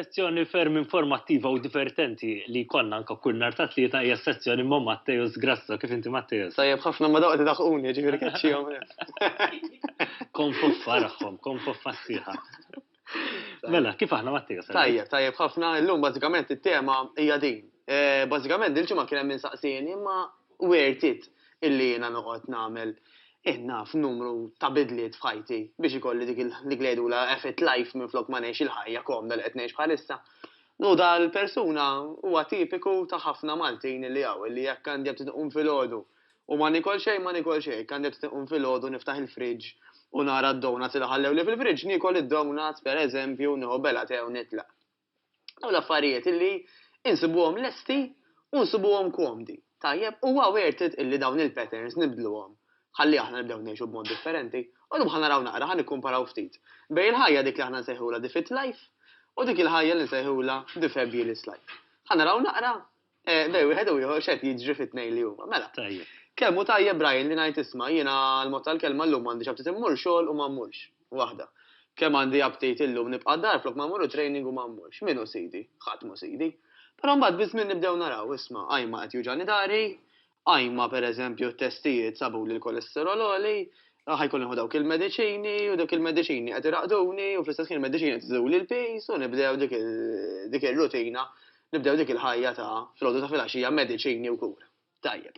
Sezzjoni ferm informattiva u divertenti li jkollna anka kull nhar ta' tlieta hija sezzjoni ma' Matteus Grasso. Kif inti Matteus? Tajjeb ħafna ma dawqti daħquni, ġifieri keċċihom. Kon foffa raħħom, kon foffa sħiħa. Mela, kif aħna Mattia? Tajjeb, tajjeb ħafna, illum bażikament it-tema hija din. Eh, bażikament dil-ġimgħa kien hemm insaqsieni imma wertit illi jiena noqgħod nagħmel eh, naf numru ta' bidliet f'ħajti biex ikolli dik li għedu la effet life minn flok ma ngħix il-ħajja komda li qed ngħix bħalissa. Nu dal-persuna huwa tipiku ta' ħafna Maltin li hawn li jekk għandi qed tinqum filgħodu U ma niekol xejn, ma niekol xejn, hekk għandi tqum filgħodu niftaħ il-fridge u nara d-donuts li ħallewli fil-fridge, niekol id-donuts, per eżempju, nieħu bella tè u nitlaq. Dawn l-affarijiet illi insibuhom lesti u nsibuhom komdi, tajjeb? Huwa worth it illi dawn il-patterns nibdluhom ħalli aħna nibdew ngħixu b'mod differenti? Illum ħa naraw naqra, ħa nikkumparaw ftit bejn il-ħajja dik li aħna nsejħulha the fit life u dik il-ħajja li nsejħulha the fabulous life. Ħa naraw naqra Eh, bej, wieħed u ieħor xed jiġri fit-tnejn li huma. Mela. Tajjeb. Kemm hu tajjeb Brian li ngħid isma' jiena l-mod tal-kelma llum għandi xabtit immur xogħol u ma mmurx. Waħda. Kemm għandi abtit illum nibqa' dar flok ma mmur training u ma mmurx. Minu sidi, ħadd mu sidi. Però mbagħad biż-żmien nibdew naraw isma' għajma qed juġani dari, Ajma, per eżempju, t-testijiet sabu li l-kolesterol għoli, ħaj kolli nħu dawk il-medicini, u dawk il-medicini għed iraqduni, u fl-istess kien il-medicini għed iżu li l-pis, u nibdew dik il-rutina, nibdew dik il-ħajja ta' fl-ħodu ta' fil-axija medicini u kura. Tajjeb.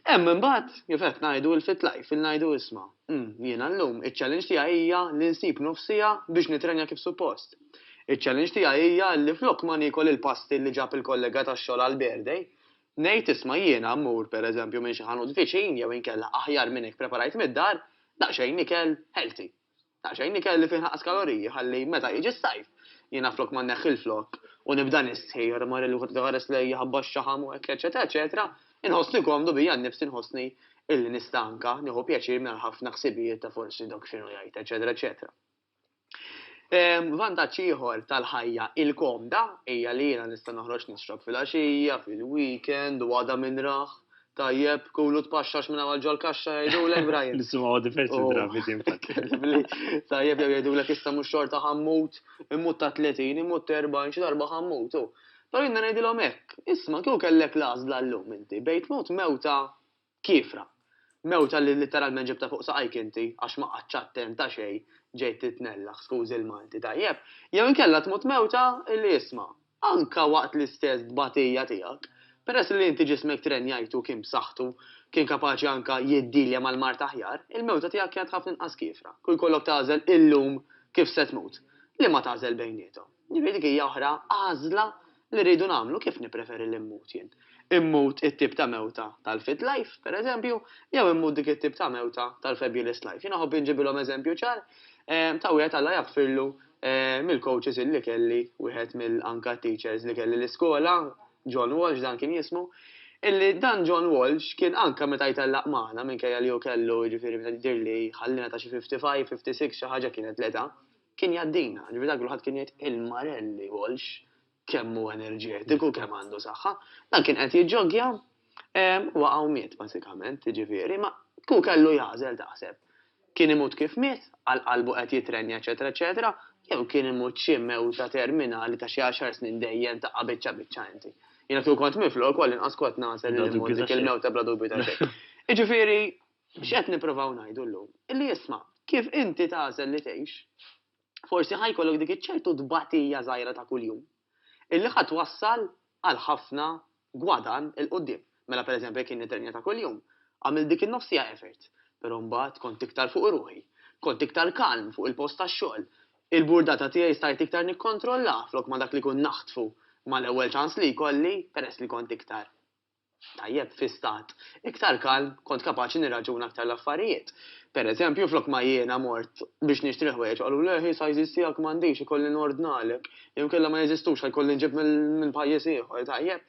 Hemm imbagħad kif qed ngħidu l-fit life, il-ngħidu isma. Hmm, jiena llum iċ-challenge tiegħi hija li nsib nofsija biex nitrenja kif suppost. Iċ-challenge tiegħi hija li flok ma nikol il-pasti li ġab il-kollega tax-xogħol għal birthday, Ngħid, isma' jiena mmur, per eżempju, minn xi ħanut viċin jew inkella aħjar minn hekk preparajt mid-dar, daqsxejn ikel healthy. Daqsxejn ikel li fih anqas kaloriji ħalli meta jiġi s-sajf, jiena flok ma nneħħi l-flokk u nibda nistħi, ara mara li kultant iħares lejja ħabba x-xaħam u hekk eċċetera eċċetera, inħossni komdu bija nnifsi nħossni illi nista' anka nieħu pjaċir mingħajr ħafna ħsibijiet ta' forsi dok x'inhu jgħid eċċetera eċċetera. Vantaġġ ieħor tal-ħajja il-komda hija li jiena nista' noħroġ nixrob fil-għaxija, fil-weekend, u għada min rah. Tajjeb, kulu tpaxxax minn hawn għal ġol-kaxxa jgħidulek Brian. Nisimgħu diversi drabi din Tajjeb jew jgħidulek issa mhux xorta ħammut, immut ta' 30, immut ta' 40 xi darba ħammut. Però jiena ngħidilhom hekk, isma' kieku kellek l-għażla llum inti bejn tmut mewta Kiefra. Mewta li litteralment ġibtha fuq saqajk inti għax ma qgħadtx attent għax ej, ġejt titnellaħ, skużi l-Malti tajjeb, jew inkella tmut mewta li isma', anke waqt l-istess tbatija tiegħek, peress li inti ġismek trenjajtu u kien b'saħħtu, kien kapaċi anke jiddilja mal-mard aħjar, il-mewta tiegħek kienet ħafna inqas kiefra, kieku jkollok tagħżel illum kif se tmut, liema tagħżel bejniethom? Jiġifieri dik hija oħra għażla li rridu nagħmlu, kif nippreferi li mmut jien? Immut it-tip ta' mewta tal-fit life, pereżempju, jew immut dik it-tip ta' mewta tal-fabulous life? Jien iħobb inġibilhom eżempju ċar ta' wieħed Alla jaghfirlu mill-coaches illi kelli, wieħed mill anka teachers li kelli l-iskola, John Walsh dan kien jismu, illi dan John Walsh kien anka meta jtellaq magħna, minkejja li hu kellu, jiġifieri meta jidhirli ħalliena ta' xi fifty five, fifty six, xi ħaġa kienet l-età, kien jgħaddina, ġifieri dak li kulħadd kien jgħid il-Marelli Walsh kemm hu enerġetiku, kemm għandu saħħa, dan kien qed jiġġoggja waqa' u miet bażikament, jiġifieri ma hu kellu jagħżel taħseb. Kien imut kif miet, għal qalbu qed jitrenja eċetera eċetera, jew kien imut xi mewta terminali ta' xi għaxar snin dejjem taqqa' biċċa biċċa inti. Jiena kieku kont miflok, wall-inqas kont nagħżel li mmut dik il-mewta bla dubju ta' xejn. Jiġifieri X'qed nippruvaw ngħidu llum? Illi isma', kif inti tagħżel li tgħix, forsi ħa jkollok dik iċ-ċertu tbatija żgħira ta' kuljum, illi ħa twassal għal ħafna gwadann 'il quddiem. Mela pereżempju jekk jien nittrenja ta' kuljum, għamilt dik in-nofs siegħa effort, però mbagħad kont iktar fuq ruħi, kont iktar kalm fuq il-post tax-xogħol, il-burdata tiegħi stajt iktar nikkontrollaha flok ma dak li kont naħtfu mal-ewwel ċans li jkolli peress li kont iktar tajjeb fi stat iktar kalm kont kapaċi nirraġuna aktar l-affarijiet. Per eżempju, flok ma jiena mort biex nixtri ħwejjeġ qalu le hi sizes tiegħek m'għandix ikolli nordnalek jew inkella ma jeżistux ħa jkolli nġib minn pajjiż ieħor, tajjeb.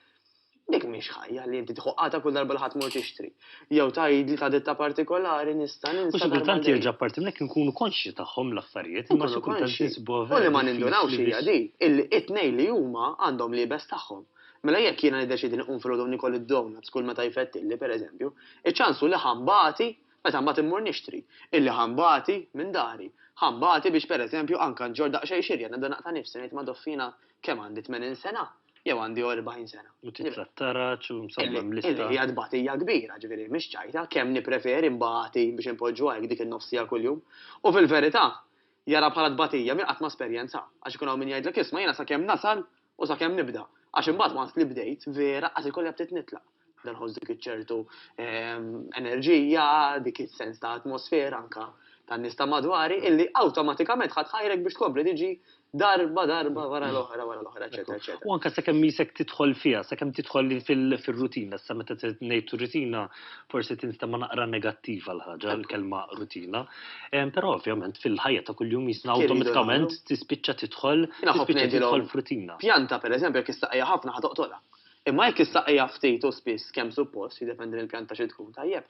Dik mhix ħajja li inti tħoqqatha kull darba li ħadd mur tixtri. Jew tgħidli ta' ditta partikolari nista' ninsa. U xi kultant jerġa' apparti minn hekk inkunu konxji tagħhom l-affarijiet imma xi kultant insibuha vera. U li ma nindunawx hija din illi t-tnejn li huma għandhom l-iebes tagħhom. Mela jekk jiena niddeċiedi nqum filgħodu u nikol id-donuts kull meta jfettilli, per eżempju, iċ-ċans hu li ħa nbati meta mbagħad immur nixtri, illi ħa nbati minn dari, ħa nbati biex per eżempju anke nġorr daqsxejn xirja, nibda naqta' nifsi, ngħid madoff jiena kemm għandi tmenin sena jew għandi erbgħin sena. U titratta raġġ u insomma hemm lista. Illi hija tbatija kbira, ġifieri mhix ċajta, kemm nippreferi nbati biex inpoġġuha hekk dik in-nofs siegħa kuljum. U fil-verità, jaraha bħala tbatija min qatt ma esperjenzaha, għax ikun hawn min jgħidlek isma' jiena sakemm nasal U sakemm nibda, għax imbagħad once li bdejt, vera qas ikolli apptit nitlaq. Dan ħoss dik iċ-ċertu ehm, enerġija, dik is-sens ta' atmosfera anka tan nista madwari, illi awtomatikament ħadd ħajrek biex tkompli tiġi darba darba wara l-oħra wara l-oħra, eċetera, eċetera. U anka sakemm jisek tidħol fiha, sakemm tidħol fil-rutina, sa meta ngħid rutina forsi tinstema' naqra negattiva l-ħaġa, l-kelma rutina. Però ovvjament fil-ħajja ta' kuljum jisna awtomatikament tispiċċa tidħol tispiċċa tidħol frutina. Pjanta pereżempju jekk issaqija ħafna ħa toqtolha. Imma jekk issaqija ftit u spiss kemm suppost, jiddependi mill-pjanta xi tkun tajjeb,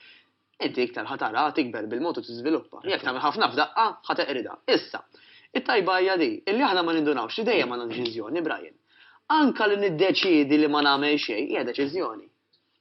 inti iktar ħa tara tikber bil-mod u tiżviluppa. Jekk tagħmel ħafna f'daqqa ħa teqridha. Issa, it-tajba hija di, illi aħna ma nindunawx li dejjem għandna deċiżjoni, Brian. Anka li niddeċiedi li ma nagħmel xejn hija deċiżjoni.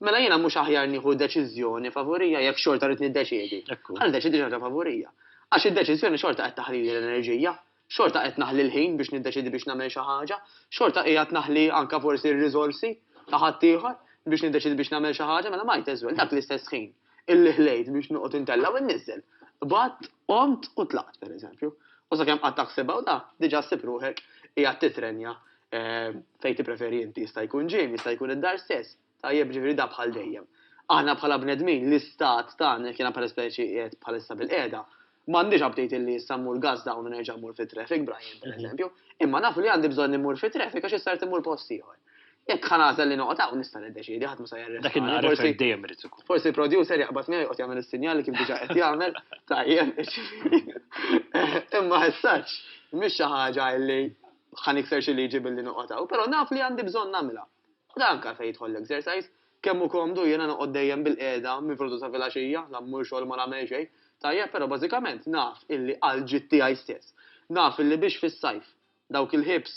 Mela jiena mhux aħjar nieħu deċiżjoni favurija jekk xorta rrid niddeċiedi? Ħa niddeċiedi xi ħaġa favurija. Għax id-deċiżjoni xorta qed taħlili l-enerġija, xorta qed naħli l-ħin biex niddeċiedi biex nagħmel xi ħaġa, xorta qiegħed naħli anke forsi r-riżorsi ta' ħaddieħor biex niddeċiedi biex nagħmel xi ħaġa, mela might as well, dak l-istess ħin. illi ħlejt biex noqgħod intella' u nniżżel. Qbadt, qomt u tlaqt, pereżempju. U sakemm qatt taħsibha u da, diġà ssib ruħek qiegħed titrenja fejn tippreferi inti, jista' jkun gym, jista' jkun id-dar stess. Tajjeb, jiġifieri da bħal dejjem. Aħna bħala bnedmin, l-istat tagħna, jekk jiena pereżpeċi qiegħed bħalissa bilqiegħda, M'għandix update illi issa mmur gas down u nerġa' mmur fit-traffic, Brian, per mhm. eżempju, imma nafu li għandi bżonn immur fit-traffic għax issa immur post ieħor. Jekk ħanaża li noqgħod hawn nista' niddeċiedi ħadd ma se jerref. Dak il-forsi dejjem irid ikun. Forsi producer jaqbad miegħi joqgħod jagħmel is-sinjali kif diġà qed jagħmel tajjeb. Imma ħessaġġ mhix xi ħaġa li ħanikser xi liġi billi noqgħod hawn, però naf li għandi bżonn nagħmilha. Dak għalfejn jidħol l-exercise. Kemm hu komdu jiena noqgħod dejjem bil-qiegħda minn filgħodu sa filgħaxija, la mmur xogħol ma nagħmel xejn. Tajjeb, però bażikament naf illi għall-ġid tiegħi stess. Naf illi biex fis-sajf dawk il-hips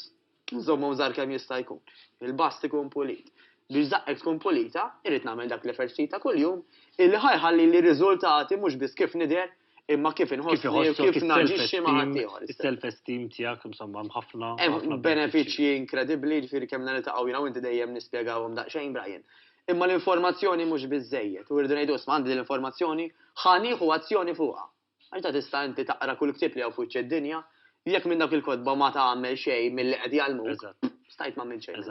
nżommhom żgħar kemm jista' jkun. Il-bast ikun pulit. Biex żaqqek tkun pulita, irrid nagħmel dak l-eferċzij ta' kuljum illi ħa jħallili riżultati mhux biss kif nidher imma kif inħossni u kif naġixxi ma' ħaddieħor. Is-self-esteem tiegħek insomma mħafna. Hemm benefiċċji inkredibbli ġifieri kemm niltaqgħu jiena inti dejjem nispjegawhom daqsxejn Brian. Imma l-informazzjoni mhux biżejjed u rridu ngħidu isma' għandi l-informazzjoni ħa nieħu azzjoni fuqha. Għax ta' tista' inti taqra kull ktieb li hawn fuċċ id-dinja, jekk minn dak il-kotba ma tagħmel xejn milli qed jgħallmuk, stajt m'għamilt xejn.